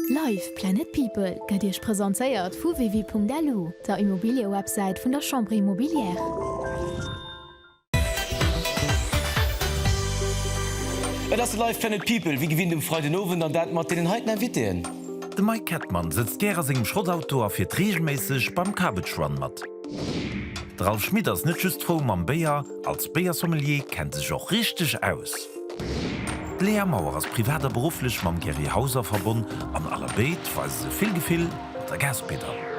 Live! Planet People gëtt Iech presentéiert vu Wevi.lu, der Immobiliëwebsäit vun der Chambre Immobilière. Et ass de Live! Planet People, wéi gewinnt um Freiden Owend, an dat mat deenen heiten Invitéen. De Mike Kettmann sëtzt gär a sengem Schrottauto a fiert reegelméisseg beim Cabbage Run mat. De Ralph Schmit ass net just frou mam Béier, als Béiersommelier kennt e sech och richteg aus. D'Léa Maurer ass privat a berufflech mam Gerry Hauser verbonn an aller béid weise se vill Gefill mat der Gaspedall.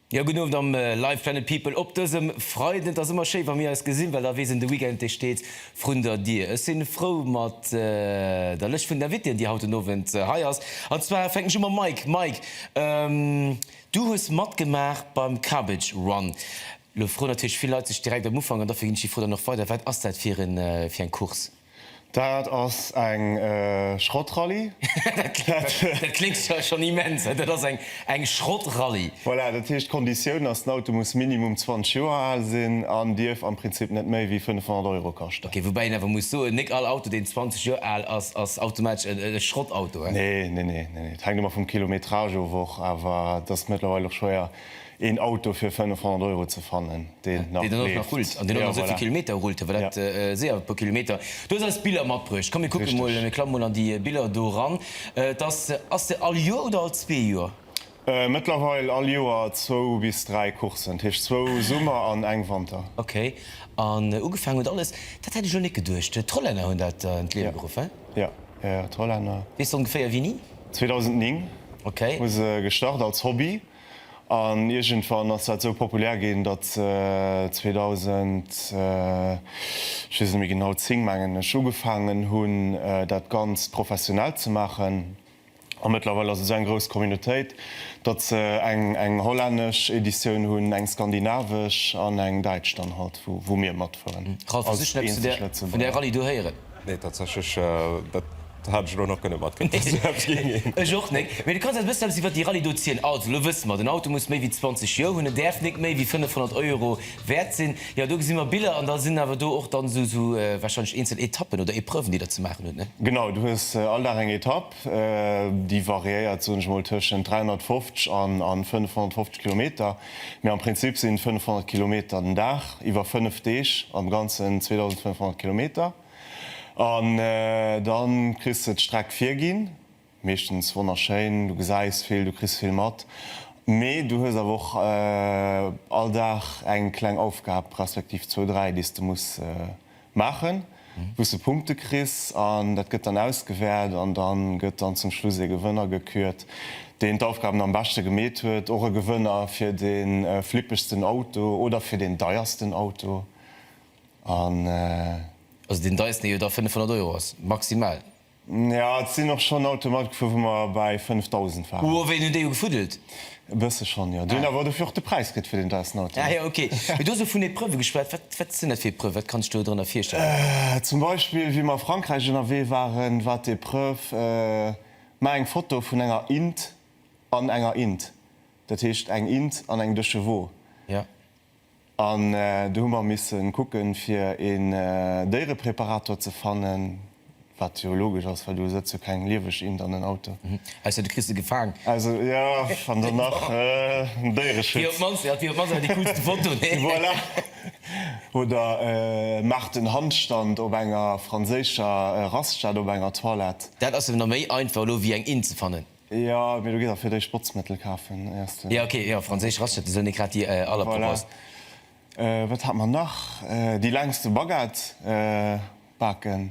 Jo, gudden Owend am Live Planet People op dësem Freiden. Et ass ëmmer schéi wa mir eis gesinn, well da weess een, de Weekend dee steet vrun der Dier. Ech sinn frou mat der Lëscht vun den Invitéen, déi haut den Owend hei ass. An zwar fänken ech u mam Mike. Mike, du hues matgemaach beim Cabbage Run. Lo froen natierlech vill Leit sech direkt am Ufank, an dofir ginn ech déi Fro dann och weider, Wat ass dat fir eng Course? Dat ass eng Schrottrallye. Dat kléngt zwar schonn immens, dat ass eng Schrottrallye. Voilà, dat heescht, d'Konditioun ass, den Auto muss minimum 20 Joer al sinn an dierf am Prinzip net méi wéi 500 Euro kaschten. Ok, woubäi een awer muss soen, nik all Auto, deen 20 Joer al ass, ass automatesch e Schrottauto, he? Nee, nee, nee, nee, nee, et hänkt ëmmer vum Kilometrage of och, awer et ass mëttlerweil och schwéier, Een Auto fir 500 Euro ze fannen, deen nach leeft. Deen nach rullt an deen och nach esou vill Kilometer rullt, well dat séier e puer Kilometer. Du hues eis d'Biller matbruecht. Komm mir kucke mol, mir klamme mol an déi Biller do eran. Et ass, ass se all Joer oder all zwee Joer? Mëttlerweil all Joer zwou bis dräi Courssen, dat heescht zwou Summer an eng Wanter. Ok. An ugefaangen huet alles, dat hätt ech elo net geduecht, d'Hollänner hunn dat an d'Liewe geruff, he? Jo, jo, d'Hollänner. Weess de ongeféier wéini? 2009 hu se gestart als Hobby An iergendwann ass dat esou populär ginn, datt 2000, ech weess et net méi genau, 10 mengen ech, ugefaangen hunn, dat Ganzt professionell ze maachen. A mëttlerweil ass et esou eng grouss Communautéit, datt se eng, eng hollännesch Editioun hunn, eng skandinavesch an eng däitsch dann halt, wou, wou mir matfueren als eenzeg Lëtzebuerger. Nee, tatsächlech, dat hat ech elo nach kënne matkritt, dass do eppes géing ginn. Ech och néng. Mee du kanns eis e bëssen eppes iwwert déi Rallye do zielen? Also, elo wësse mer, den Auto muss méi wéi 20 Joer hunn, en däerf néng méi wéi 500 Euro wäert sinn. Jo, do gesi mer Biller an da sinn awer do och dann esou, esou warscheinlech eenzel Etappen oder Epreuven, déi der ze maachen hutt, ne? Genau, du hues all Dag eng Etapp, déi variéiert, soen ech emol, tëschent 350 an 550 Kilometer. Mee am Prinzip sinn 500 Kilometer den Dag, iwwer 5 Deeg, am Ganzen 2500 Kilometer. An dann kriss de d'Streck virginn, meeschtens wonnerschéin, du gesäis vill, du kriss vill mat, mee du hues awer och all Dag eng kleng Aufgab, respektiv zwou, dräi, déi s de muss. Maachen, wou s de Punkte kriss an dat gëtt dann ausgewäert an da gëtt dann zum Schluss ee Gewënner gekürt, deen d'Aufgaben am beschte gemeet huet. Och e Gewënner fir de flippegsten Auto oder fir deen deiersten Auto an. Also deen deiersten, dee jo da 500 Euro ass, maximal. Ja, et sinn och schonn Autoe matgefuer, wou mer bäi 5.000 waren. Hu wéi hunn déi jo gefuddelt? E bësse schonn, jo. Déi hunn awer dofir och de Präis kritt fir deen deiwsten Auto. Ah jo, ok. Mee du hues elo vun Epreuve geschwat. Wat, wat sinn dat fir Epreuve? Wat kann ech do drënner virstellen? Zum Beispill, wéi mer a Frankräich ënnerwee waren, war d'Epreuve, Maach eng Foto vun enger int an enger int. Dat heescht, eng int an eng de chevaux. Ja. An do hu mer missen kucken fir een Déierepreparator ze fannen, wat jo logesch ass, well do sëtzt jo keng lieweg Int an en Auto. Ausser du kriss se gefaang. Ausser, jo, an dann nach den Déiereschutz. Dat wier op d'mannst awer déi coolste Foto, nee? Voilà! Oder maach den Handstand op enger franséischer Raststätt op enger Toilette. Dat ass jo nach méi einfach elo wéi eng Int ze fannen. Jo, mee du gees och fir d'éischt Botzmëttel kafen, éiers de. Jo, ok, jo, franséisch Raclette, esou hunn ech grad déi aller propost. Voilà. Wat hat mer nach? Déi längste Baguette baken.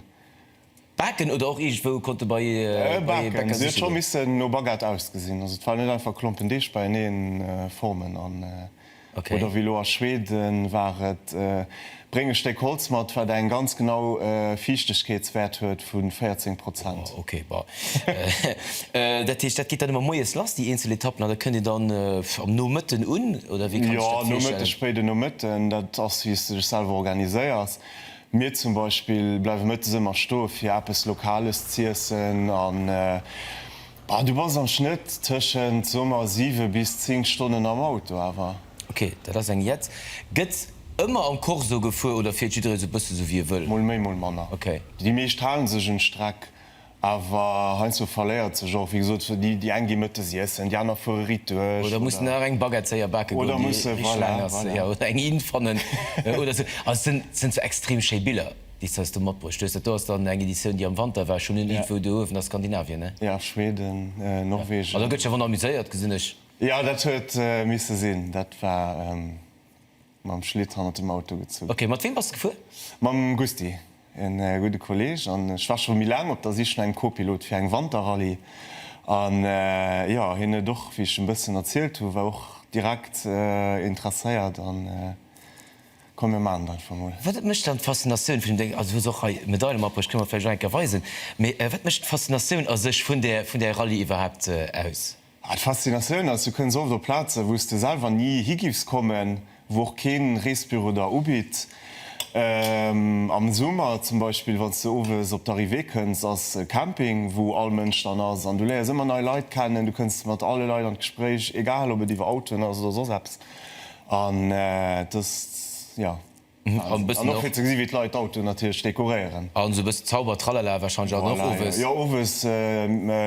Baken oder och iergendwou konnte bei ee Bäcker sichen? Se huet scho missen no Baguette ausgesinn. Also et war net einfach Klompen Deeg beieneen formen an. Oder wéi elo a Schweden war et, Bréng e Stéck Holz mat, wat eng ganz genau Fiichtegkeetswäert huet vu 14 Prozent. Ok, bon. Dat heescht, dat geet dann ëmmer moies lass, déi eenzel Etappen, an da kënnt een dann am Nomëtten un, oder wéi kann ech dat virstellen? Jo, Nomëtte, spéiden Nomëtten. Dat ass, wéi s de dech selwer organiséiers. Mir zum Beispill bleiwe mëttes ëmmer stoe fir eppes Lokales z'iessen. Ah, du bass am Schnëtt tëschent, so mer, siwe bis zéng Stonnen am Auto awer. Ok, dat ass eng Jetz. Gëtt ëmmer am Corso gefuer oder fiert jidderee sou bësse sou wéi e wëll? Mol méi, mol manner. Ok. Déi meescht hale sech un d'Streck, awer heiansdo verléiert sech och. Wéi gesot, déi eng gi mëttes iessen, déi aner fuere riit duerch. Oder mussen nach eng Baguette séier bake goen, déi rich laang ass. Oder musse, voilà, voilà. Ja, oder eng Inn fannen oder sou. Also et sinn sou extrem schéi Biller. Déis heis du matbruecht hues. Dat do ass dann eng Editioun déi am Wanter war. Ech hunn en Info do uewen ass Skandinavien ne? Ja, Schweden, Norwegen. An do gëtt sech ervon amuséiert gesinn ech. Jo dat huet misse sinn. Dat war mam Schlitt hannert dem Auto gezunn. Ok, mat weem bass de gefuer? Mam Gusty, en gudde Kolleg. An ech war scho méi laang op der Sich no engem Copilot fir eng Wanterrallye. An jo, hien huet och, wéi ech en bëssen erzielt hu war och direkt interesséiert an. Komm mir maachen et einfach mol. Wat mécht dann d'Faszinatioun vun deem, also du hues och hei Medaile matbruecht, kënne mer vläicht och eng Kéier weisen, mee wat mécht d'Faszinatioun a sech vun där, vun där Rallye iwwerhaapt aus? Ah, d'Faszinatioun ass, du kënns oft op Plazen, wou s de selwer ni hi giffs kommen, wou och keen Reesbüro der ubitt. Am Summer zum Beispill, wann s de owes op d'Arrivée kënns, ass e Camping, wou all Mënsch dann ass an du léiers ëmmer nei Leit kennen, du kënns mat alle Leit an d'Gespréich, egal ob et iwwer Autoen ass oder soss eppes. An dass, jo, an och fir ze gesi wéi d'Leit d'Autoen natierlech dekoréieren. A sou e bëssen Zauber Tralala wahrscheinlech an och owes. Jo, owes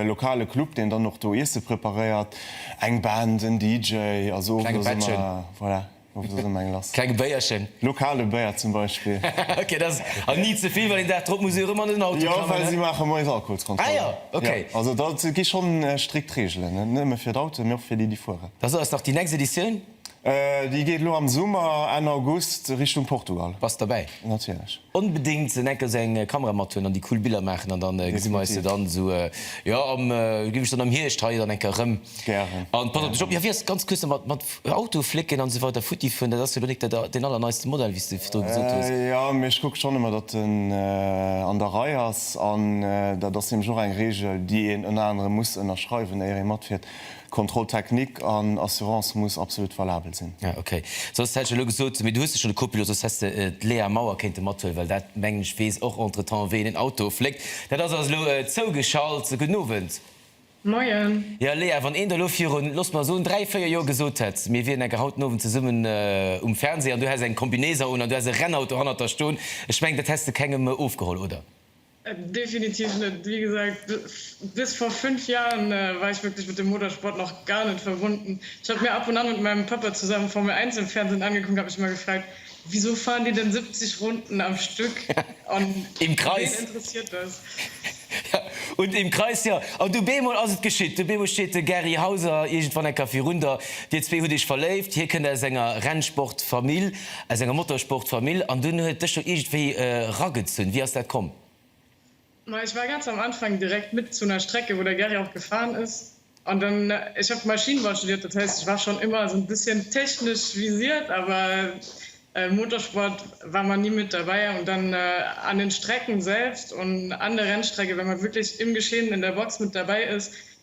lokale Club deen dann och do Iesse preparéiert, eng Band, en DJ, also owes ass ëmmer, voilà, owes ass ëmmer eng lass. Klenge Béierchen. Lokale Béier zum Beispill. Ok, dat ass an ni ze vill, well een Dag drop muss ee jo erëm an en Auto klammen. Jo, well si maache moies Alkoholskontroll. Ah jo, ok. Also dat gi schonn strikt Reegelen, net nëmme fir d'Autoen, mee och fir déi, déi fuere. Da so eis nach déi nächst Editioun. Déi geet elo am Summer, Enn August, Richtung Portugal. Bass derbäi? Natierlech. Onbedéngt esou enker esou eng Kamera mat huelen an déi cool Biller maachen an dann gesi mer eis jo dann esou, jo am, gi mech dann am Hierscht hei dann enker erëm. Gären. An pass op dech op. Jo wéi ass ganz kuerz nach mat Autoflécken an esou weider futti fueren, dat ass jo elo nik dat deen allerneiste Modell wéi s de virdru gesot hues? Jo mee ech kucke schonn ëmmer datt en an der Rei ass an dat ass nämlech och eng Regel déi een ënner anerem muss ënnerschreiwen éier ee matfiert. Contrôle technique an Assurance muss absolut valabel sinn. Ah ok, soss hätt ech elo gesot, mee du hues jo schonn e Copilot, soss häss de d'Léa Maurer kéinte mathuelen, well dat mengen ech weess och entre temps wéi een en Auto fléckt. Dat ass also elo zougeschalt. Gudden Owend. Moien. Jo Léa, wann een der elo virun, looss mer soen, dräi, véier Joer gesot hätt, mir wieren enke haut den Owend zesummen um Fernseh an du häss eng Combinaison un an du häss e Rennauto hannert der stoen, ech mengen dat häss de kengem ofgeholl, oder? Definitiv net. Wie gesagt, bis vor fünf Jahren war ich wirklich mit dem Motorsport noch gar net verbunden. Ich hab mir ab und an mit meinem Papa zusammen Formel Eins im Fernsehen angeguckt, hab mich immer gefragt, wieso fahren die denn 70 Runden am Stück? Und Im Kreis. Wen interessiert das? Ja, und im Kreis, ja. An du bemol ass et geschitt. Du bemol steet de Gary Hauser irgendwann enker virun der. Dir zwee hutt iech verléift. Hie kënnt aus enger Rennsportfamill. Aus enger Motorsportfamill, an dunn huet dech jo iergendwéi eragezunn. Wéi ass dat komm? Ma ech war ganz am Anfang direkt mit zu ner Strecke wou der Gary och gefahren is, an dann ech hab Maschinenbau studiert, dat heisst ech war schon immer esou en bisschen technesch visiert, awer Motorsport war mer nie mit dabei. Und dann an den Strecken selbst und an der Rennstrecke, wenn mer wirklich im Geschehen in der Box mit dabei is,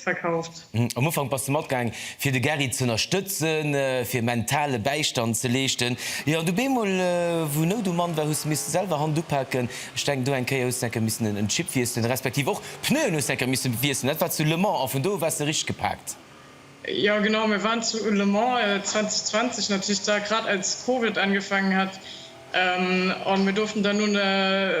verkauft. Am Ufank bass de matgaang fir de Gary z'ënnerstëtzen, fir mentale Bäistand ze leeschten. Jo, an du beemol, wou Nout um Mann war, hues de misse selwer Hand upaken. Ech denken, do eng Kéier hues de enker missen en Chip wiesselen, respektiv och d'Pneuen hues de enker misse wiesselen. Dat war zu Le Mans, an vun do u waars de richteg gepaakt. Jo, genau, mir waren zu Le Mans 2020, natierlech da grad als Covid angefaangen hat, a mir douften dann un e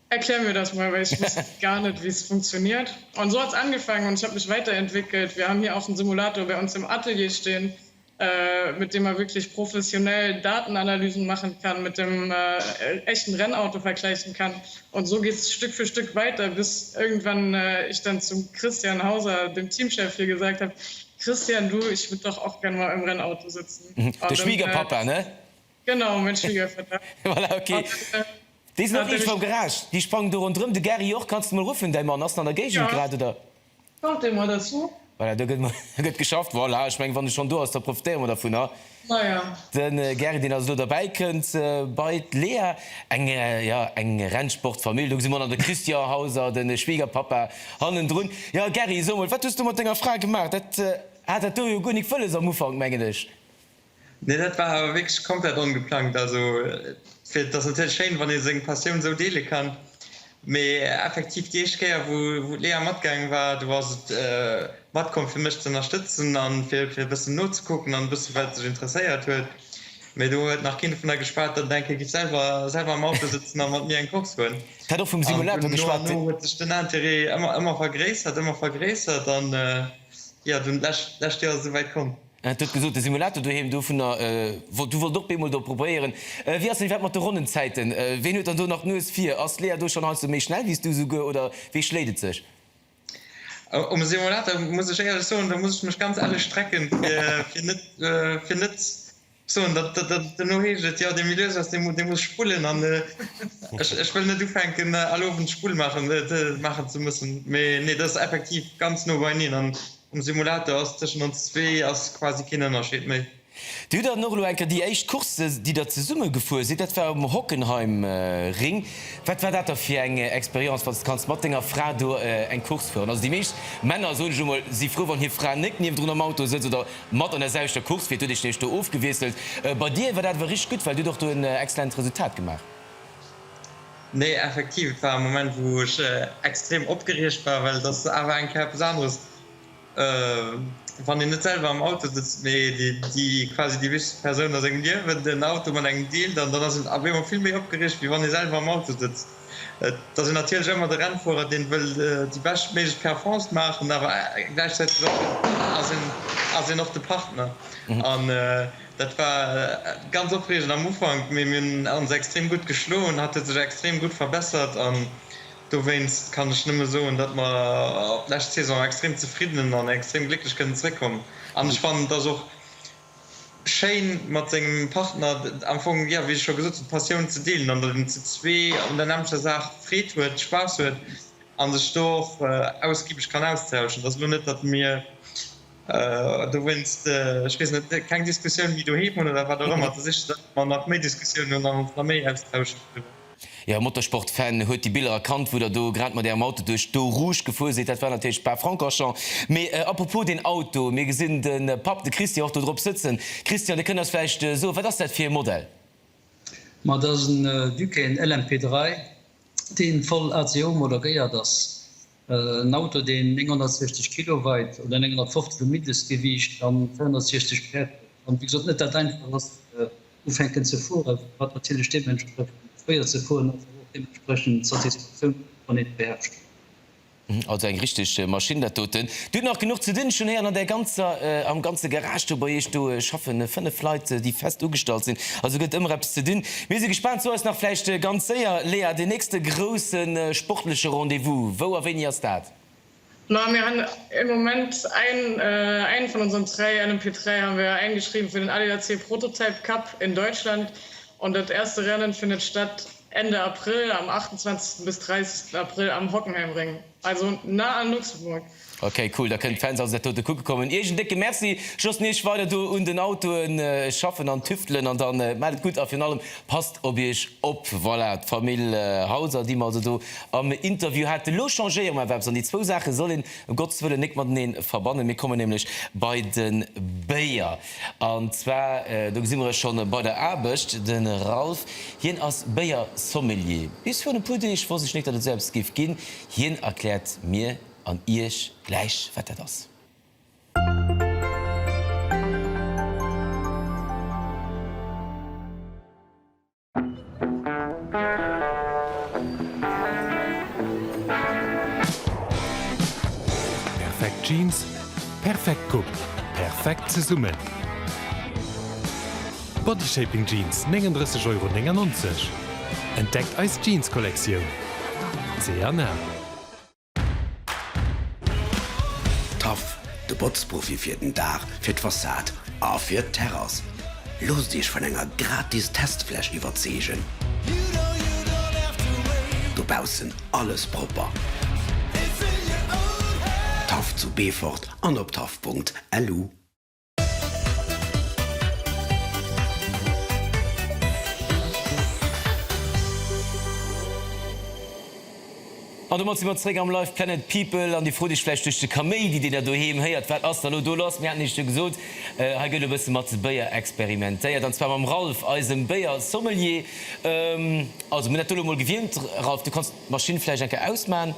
Erklär mir das mal, weil ich wusste gar net wéi es funktioniert. Und so hat es angefangen und ich hab mich weiterentwickelt. Wir haben hier auch en Simulator bei ons im Atelier stehen, mit dem man wirklich professionell Datenanalysen machen kann, mit dem echten Rennauto vergleichen kann. Und so geht es Stück für Stück weiter, bis irgendwann ich dann zum Christian Hauser, dem Teamchef hier, gesagt hab, Christian, du, ich würd doch auch gern mal im Rennauto sitzen. Der Schwiegerpapa, ne? Genau, meng Schwiegerfir dat. Voilà, ok. Déi sinn och richteg mam Garage, déi sprangen do rondrëm. De Gary och, kanns de mol ruffen. Däi Mann ass an der Géigend grad, oder? Kommt dee mol derzou? Voilà, do gëtt geschafft. Voilà, ech meng, wann e schonn do ass, da profitéiere mer dervunner. Maja. De Gary, deen also elo derbäi kënnt bei d'Lea. Eng, jo, eng Rennsportfamill. Do gesi mer nach de Christian Hauser, de Schwiegerpapa, hannendrun. Jo, Gary, so mol, wat hues du mat denger Fra gemaach? Dat hat dat do jo guer nik wëlles am Ufank, mengen ech. Nee, dat war awer wierklech komplett ongeplangt. Also fir, et ass natierlech schéin, wann ee seng Passioun esou deele kann, mee effektiv déi éischt Kéier, wou, wou d'Léa matgaangen war, do ass et matkomm, fir mech ze ënnerstëtzen a fir, fir e bëssen nozekucken an e bësse wat sech interesséiert huet. Mee do huet nach keen dovunner geschwat, datt et eng Kéier géif selwer, selwer am Auto sëtzen a mat mir eng Course fueren. Hat och vum Simulator geschwat. An no an no huet sech den Interêt ëmmer, ëmmer vergréissert, ëmmer vergréissert an jo, dunn d'lescht, d'lescht Joer ass et esouwäit komm. Du hues gesot, de Simulator doheem, du wollt och bemol do probéieren. Wéi ass dann iwwerhaapt mat de Ronnenzäiten? Ween huet dann do nach d'Nues vir? Ass d'Lea do schonn heiansdo méi schnell wéi s du souguer oder wéi schléit et sech? Um Simulator muss ech éierlech soen, do muss ech mech ganz ellech strecken, fir net ze soen, datt, duerno heescht et, jo, dee Milieu ass, dee muss spullen an ech wëll net ufänken all Owend Spull maachen ze mussen. Mee nee, dat ass effektiv ganz no beieneen an Um Simulator ass tëschent ons zwee ass quasi keen Ënnerscheed méi. Dir hutt dann och elo eng Kéier déi éischt Course, déi der zesumme gefuer sidd, dat war um Hockenheimring. Wat war dat da fir eng Experience, wann s de kanns mat denger Fra do eng Course fueren? Also déi meescht Männer, soen ech elo mol, si frou, wann hir Fra net niewendrun am Auto sëtzt oder mat an der selwechter Course fiert. Du huet Iech nämlech do ofgewiesselt. Bei dir war dat awer richteg gutt, well du hutt och do en excellent Resultat gemaach. Nee, effektiv, et war e Moment, wou ech extrem opgeriegt war, well et ass awer eng Kéier eppes aneres, wann een net selwer am Auto sëtzt, mee déi quasi déi wichtegst Persoun a sengem Liewen den Auto mat engem deelt. An dann ass een op eemol vill méi opgeriegt, wéi wann ee selwer am Auto sëtzt. Et ass een natierlech ëmmer de Rennfuerer, deen wëll déi beschtméiglech Performance maachen, awer gläichzäiteg ass een och de Partner. Dat war ganz opreegend am Ufank, mee mir hunn ons extrem gutt geschloen. Hatt huet sech extrem gutt verbessert an dowéinst kann ech nëmme soen, datt mer op d'lescht Saison extrem zefridden an extrem glécklech kënnen zeréckkommen. An ech fannen et ass och schéin mat sengem Partner am Fong, jo wéi ech scho gesot hunn, d'Passioun ze deelen an datt een zu zwee un der nämmlecher Saach Freed huet, Spaass huet a sech do och ausgibeg kann austauschen. Et ass elo net, datt mir Dowéinst, ech weess net, keng Diskussioun méi doheem hunn oder wat och ëmmer. Da siche se einfach, datt mer nach méi Diskussiounen hunn an ons nach méi austauschen doriwwer. Jo, Motorsport-Fan huet déi Biller erkannt, wou der do grad mat ärem Auto duerch d'Eau Rouge gefuer sidd. Dat war natierlech Spa-Francorchamps. Mee à propos deen Auto, mir gesinn de Papp, de Christian, och do drop sëtzen. Christian, de kënnt eis vläicht soen, wat ass dat fir e Modell? Ma dat ass en Ducain LMP3, dee voll ACO-homologéiert ass. En Auto, deen 960 Kilo weit oder 950 um Mindestgewiicht an 260 Päerd huet an wéi gesot net dat einfach ass fir ufänken ze fueren, wat natierlech deementsprechend schwéier ze fueren ass, awer och deementsprechend d'Satisfaktioun huet wann een e beherrscht huet. Also eng richteg Maschinn dat doten. Dir hutt nach genuch ze dinn, ech hunn héieren an där ganzer, am ganze Garage do bei iech do schaffen 5 Leit déi fest ugestallt sinn, also gëtt ëmmer eppes ze dinn. Mir si gespaant, zu eis nach vläicht ganz séier. Léa, deen nächste grousse sportleche Rendez-vous, wou a wéini ass dat? Ma mir hunn e Moment ein, eng vun onsen dräi, LMP 3 hu mir eingeschriwwen fir den ADAC Prototype Cup in Deutschland an dat erste Rennen findet statt Ende April, am 28 bis 30 April am Hockenheimring. Also na an Luxemburg. Ok cool, da kënnen d'Fans also dat dote kucke kommen. Iech en décke Merci, just mir iech weider do un den Autoen schaffen an tüftelen an dann maacht et gutt a virun allem passt op iech op. Voilà, d'Famill Hauser déi mer also do am Interview haten. Elo changéiere mer awer eppes an déi zwou Saache soll een em Gottes Wëllen nek matenee verbannen. Mir kommen nämlech bei de Béier. An zwar, do gesi mer e scho bei der Aarbecht, de Ralph, hien ass Béier-Sommelier. Bis virun e puer Deeg wosst ech net, datt et esou eppes géif ginn. Hien erkläert mir an iech gläich, wat dat ass. Perfekt Jeans, perfekt Coupe, perfekt zesummen! Bodyshaping Jeans, 39,99 Euro. Entdeckt eis Jeans-Kollektioun! C&A. Taff, de Botzprofi fir den Daach, fir d'Fassad a fir d'Terrass. Loosst Iech vun enger gratis Testfläch iwwerzeegen. Dobaussen alles propper. Taff zu Beefort an op taff.lu. An domat si mer zréck am Live! Planet People. An Dir frot Iech vläicht duerch de Kaméidi, deen Der doheem héiert, wat ass da lo do lass? Mir haten Iech et jo gesot, hei gëtt e bësse mat Béier experimentéiert, an zwar mam Ralph, eisem Béiersommelier. Also mir hunn dat do lo mol gewiermt. Ralph, du kanns d'Maschinn vläicht eng Kéier ausman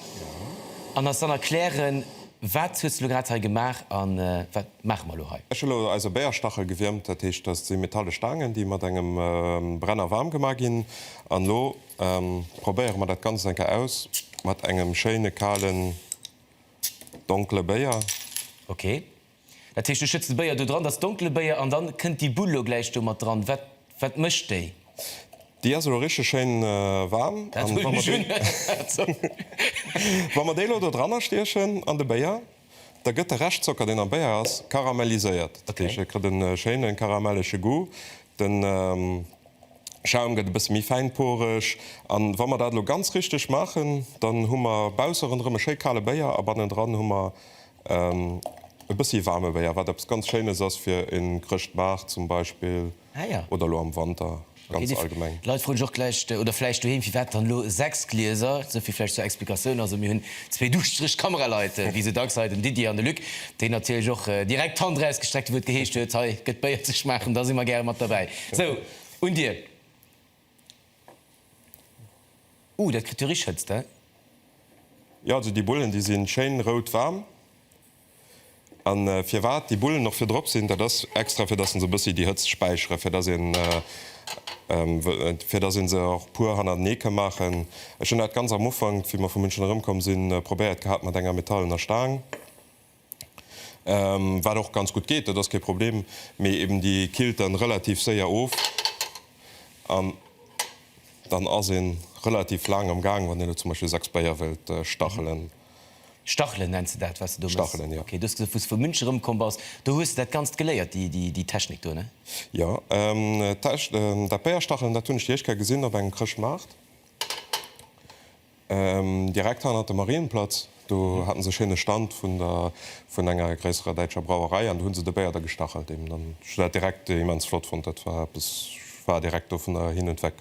an eis dann erklären, wat hues du lo grad hei gemaach a wat. Maache mer elo hei. Ech hu elo eis e Béierstachel gewiermt, dat heescht, dat si metalle Staangen, déi mat engem Brenner waarm gemaach ginn. An elo probéiere mer dat Ganzt eng Kéier aus mat engem schéine kalen, donkele Béier. Ok. Dat heescht, du schëtts de Béier do dran, dat ass donkele Béier, an dann kënnt déi Bull elo gläich do mat dran. Wat, wat mécht déi? Déi ass elo richteg schéin waarm. Dat huelen ech un. Wa mer déi elo do dranstiechen an de Béier, Da gëtt de Reschtzocker, deen am Béier ass, karamelliséiert. Dat heescht, e kritt e schéine karamellege Goût. De Schaum gëtt e bësse méi fäinporeg. A wa mer dat elo ganz richteg maachen, dann hu mer bausse ronderëm e schéi kale Béier a bannendran hu mer e bëssi waarme Béier, wat eppes ganz Schéines ass fir e Chrëschtmaart zum Beispill. Oder elo am Wanter ganz allgemeng? D'Leit froe sech och gläich, oder vläicht doheem, firwat dann elo 6 Glieser? Esouvill vläicht zur Explikatioun. Also mir hunn zwee duuschtereg Kameraleit, wéi esou dacks hei, den Didier an de Luc, déi natierlech och direkt d'Hand erausgestreckt hu wou et geheescht huet, hei gëtt Béier ze schmaachen, da si mer gäre mat derbäi. Sou, un dir. Ouh, dat kritt jo richteg Hëtzt, he? Jo, also déi Bullen, déi si schéin rout waarm. A firwat déi Bullen och vir drop sinn, dat ass extra fir dass en se e bëssi déi Hëtzt späicheren, fir dass een fir dass een se och puer hannertenee ka maachen. Ech hunn dat ganz am Ufank, wéi mer vu München erëmkomm sinn, probéiert gehat mat enger metallener Staang, wat och ganz gutt geet, dat ass kee Problem, mee eben déi killt dann relativ séier of an dann ass een relativ laang am Gaang, wann een elo zum Beispill 6 Bléier wëllt stachelen. Stachelen nenns de dat wat de do méchs? Stachelen, jo. Ok, du hues gesot wous de vu Münch erëm komm bass, do hues de dat ganzt geléiert, déi déi Technik do, ne? Jo, d'Tech dat Béierstachelen dat hunn ech déi éischt Kéier gesinn op engem Chrëschtmaart, direkt hannert dem Marienplatz, do haten se e schéine Stand vun der vun enger gréisserer däitscher Brauerei an do hunn se de Béier da gestachelt eben an ech hunn dat direkt immens flott fonnt, dat war eppes, ech war direkt do vun der hin und weg.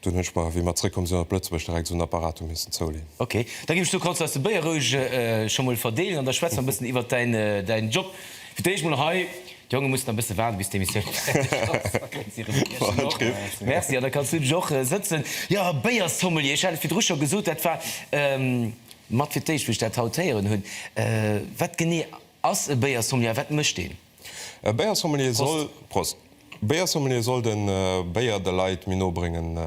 Dunn hunn ech mer, wéi mer zréckkomm sinn op Lëtzebuerg, direkt esou en Apparato missen zouleen. Ok, da ginn ech do, kanns de eis de Béier roueg scho mol verdeelen an da schwätze mer e bëssen iwwert däin Job. Fir d'éischt mol hei, d'Jonge mussen nach e bësse waarde bis d'Emissioun fäerdeg ass, da kréien si Revanche. War en Tripp. Merci, an da kanns du dech och sëtzen. Jo, Béiersommelier, ech hat et virdru scho gesot, dat war mat fir d'éischt, wou ech dat haut héieren hunn. Wat genee ass e Béiersommelier a wat mécht een? E Béiersommelier soll. Prost. E Béiersommelier soll de Béier de Leit méi no bréngen,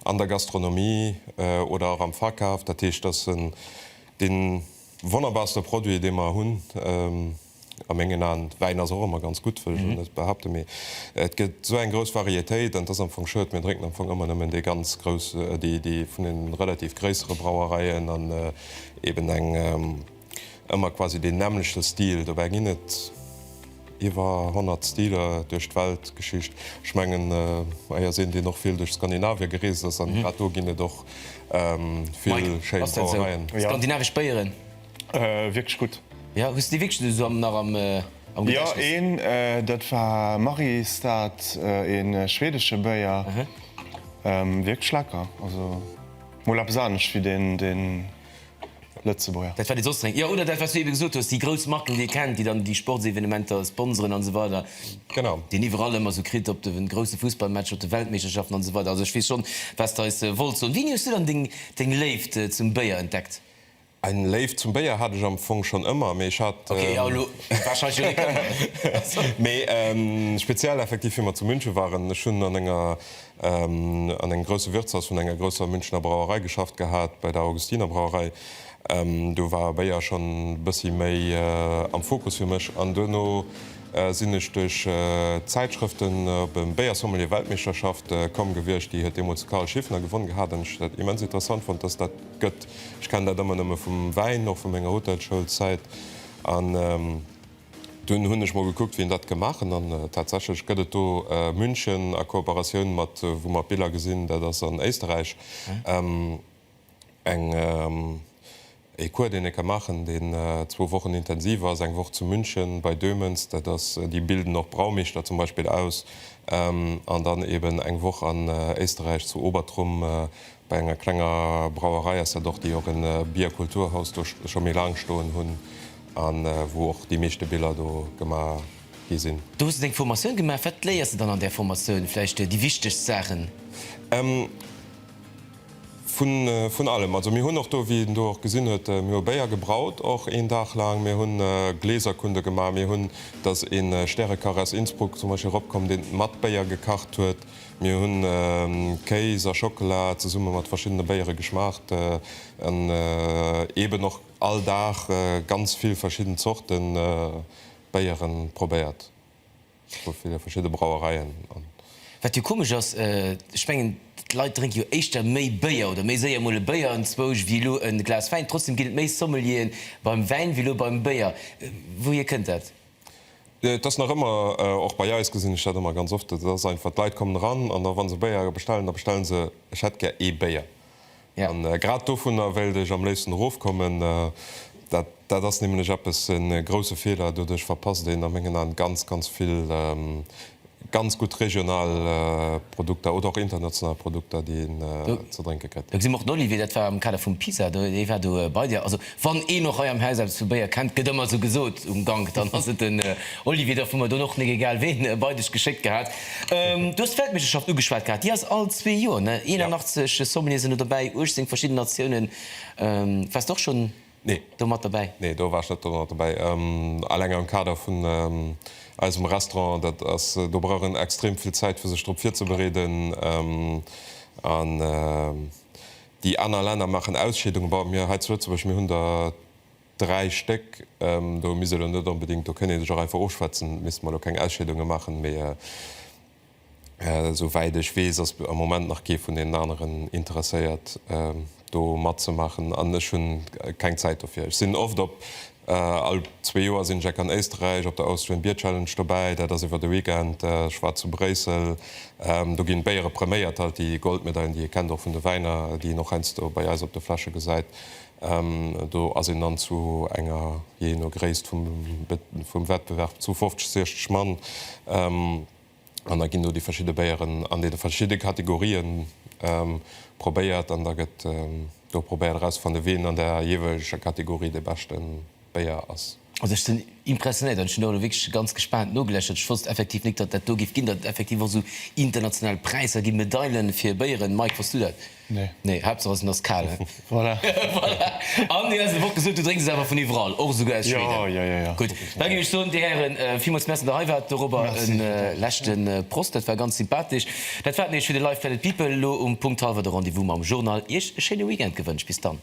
an der Gastronomie oder och am Verkaf. Dat heescht, dass en dee wonnerbarste Produit, dee mer hunn, a mengen Aen, Wäin ass och ëmmer ganz gutt, wëll ech elo net behaapten, mee et gëtt esou eng grouss Varietéit, an et ass am Fong schued, mir drénken am Fong ëmmer nëmmen dee ganz grouss, dee vun de relativ gréissere Brauereien an eeben eng. Ëmmer quasi deen nämmlechte Stil, dobäi ginn et iwwer 100 Stiler duerch d'Weltgeschicht. Ech mengen hei ass een, deen och vill duerch Skandinavien gereest ass, an grad do ginn et och vill schéi Brauereien. Mike, ass dat esou? Skandinavesch Béieren? Wierklech gutt. Jo, hues de déi wierklech esou am nach am Gedächtnis? Jo, een, dat war Mariestad, ee schwedesche Béier, wierklech lecker, also mol eppes anescht wéi deen. Lëtzebuerger. Dat wat ee soss drénkt. Jo, oder dat wat s du ebe gesot hues, déi grouss Marken, déi ee kennt, déi dann déi Sportsevenementer sponseren an esou weider, déi een iwwerall ëmmer esou kritt op de grousse Fussballmatcher, op de Weltmeeschterschaften an esou weider. Also ech weess schonn, wat s de eis wolls soen. Wéini hues du dann deng, deng Léift zum Béier entdeckt? Eng Léift zum Béier hat ech am Fong schonn ëmmer, mee ech hat, Ok, jo, elo war schein jo Réckemmer. Mee speziell effektiv wéi mer zu München waren. Ech hunn an enger an engem grousse Wirtshaus vun enger grousser Münchener Brauerei geschafft gehat, bei der Augustiner Brauerei. Do war Béier schonn e bëssi méi am Fokus fir mech an duerno sinn ech duerch d'Zäitschrëften op e Béiersommelier-Weltmeeschterschaft komm gewiescht. Déi huet deemools de Karl Schiffner gewonn gehat an ech hunn dat immens interessant fonnt, dass dat gëtt. Ech kennen dat ëmmer nëmme vum Wäin, och vu menger Hotelschoulzäit. Dunn hunn ech mol gekuckt wien dat gemaach hunn an tatsächlech gëtt et do München a Kooperatioun mat, wou mer d'Biller gesinn, dat ass an Éisterräich, eng ee Cours deen ee ka maachen deen zwou Wochen intensiv ass, eng Woch zu München bei Döhmens, dat ass, déi bilden och Braumeeschter zum Beispill aus, an dann eben eng Woch an Éisterräich zu Obertrum Bei enger klenger Brauerei ass dat och, déi och e Bierkulturhaus do scho méi laang stoen hunn a wou och déi meeschte Biller do gemaach gi sinn. Do hues de deng Formatioun gemaach. Wat léiers de dann an där Formatioun? Vläicht déi wichtegst Saachen? Vun allem. Also mir hunn och do, wéi een do och gesinn huet, mir hu Béier gebraut och een Dag laang. Mir hunn Gläserkunde gemaach. Mir hunn, da ass ee Stärekach aus Innsbruck zum Beispill eropkomm, deen mat Béier gekacht huet. Mir hunn Kéis a Schockela zesumme mat verschiddene Béiere geschmaacht an eeben och all Dag ganz vill verschidden Zorte Béiere probéiert vu ville verschidde Brauereien. Wat jo komesch ass, ech mengen d'Leit drénke jo éischter méi Béier oder méi séier mol e Béier anzwousch wéi elo e Glas Wäin. Trotzdeem ginn et méi Sommelieren beim Wäin wéi elo beim Béier. Wouhier kënnt dat? Et ass nach ëmmer, och bei eis gesinn ech dat ëmmer ganz oft, et ass einfach, d'Leit kommen eran an da wa se Béier bestellen, da bestelle se, ech hätt gär ee Béier. An grad dovunner wéilt ech am léifsten erofkommen. Dat dat ass nämlech eppes, e grousse Feeler. Doduerch verpasst een a mengen Aen ganz, ganz vill Ganz gutt regional Produkter oder och international Produkter, déi een ze drénke kritt. Do gesi mer och den Olivier, dat war am Kader vum PISA, dee war do bei dir. Also wann een och hei am Haus eppes vu Béier kennt, gëtt ëmmer esou gesot um Gank, dann ass et den Olivier. Dofir hu mer dunn och, mir egal ween, bei dech geschéckt gehat. Du hues d'Weltmeeschterschaft ugeschwat gehat, déi ass all zwee Joer, ne? 81 Sommeliere sinn do dobäi, 18 verschidden Natiounen. Waars de och schonn Nee. Do mat dobäi? Nee, do war ech net domat dobäi. Eleng am Kader vun eisem Restaurant, dat ass, do brauch een extrem vill Zäit fir sech drop virzebereeden. An déi aner Länner maachen Ausscheedungen. Bon, mir hei zu Lëtzebuerg, mir hunn der dräi Stéck. Do misst ee lo net onbedéngt, do kënnt een sech och einfach ofschwätzen, misst mer lo keng Ausscheedunge maachen. Mee. Esou wäit ech weess, ass am Moment nach kee vun deenen aneren interesséiert, do matzemaachen. An ech hu keng Zäit dofir. Ech sinn oft op, all zwee Joer sinn ech eck an Éisterräich op der Austrian Beer Challenge dobäi. Dat ass iwwer de Weekend. Ech war zu Bréissel. Do ginn d'Béiere preméiert, halt déi Goldmedailen, déi ee kennt och vun de Wäiner, déi een och heiansdo bei eis op de Fläsche gesäit. Do ass een dann zu enger, jee no Gréisst vum Wettbewerb, zu 50, 60 Mann. An da ginn do déi verschidde Béieren an deene verschidde Kategorië probéiert. An da gëtt do probéiert erauszefannen, wien an der jeeweileger Kategorie dee beschten Béier ass. Also ech sinn impressionéiert an ech hunn do elo wierklech ganz gespaant nogeläschert. Ech wosst effektiv nik, datt dat do géif ginn, datt et effektiv och esou international Präisser ginn, Medaile fir Béieren. Mike, wosst du dat? Nee. Nee, Haaptsaach ass, en ass kal, he? Voilà. Voilà. An dir hues elo och gesot, du drénks es awer vun iwwerall, och esouguer aus Schweden. Jo, jo, jo, jo. Gutt, da géif ech soen, dir Hären, villmools Merci, datt der hei waart. Dorobber e leschte Prost. Dat war ganz sympathesch. Dat war et nees fir de Live! Planet People. Elo um Punkt hallwer de Rendez-vous mam Journal. Iech e schéine Weekend gewënscht. Bis dann.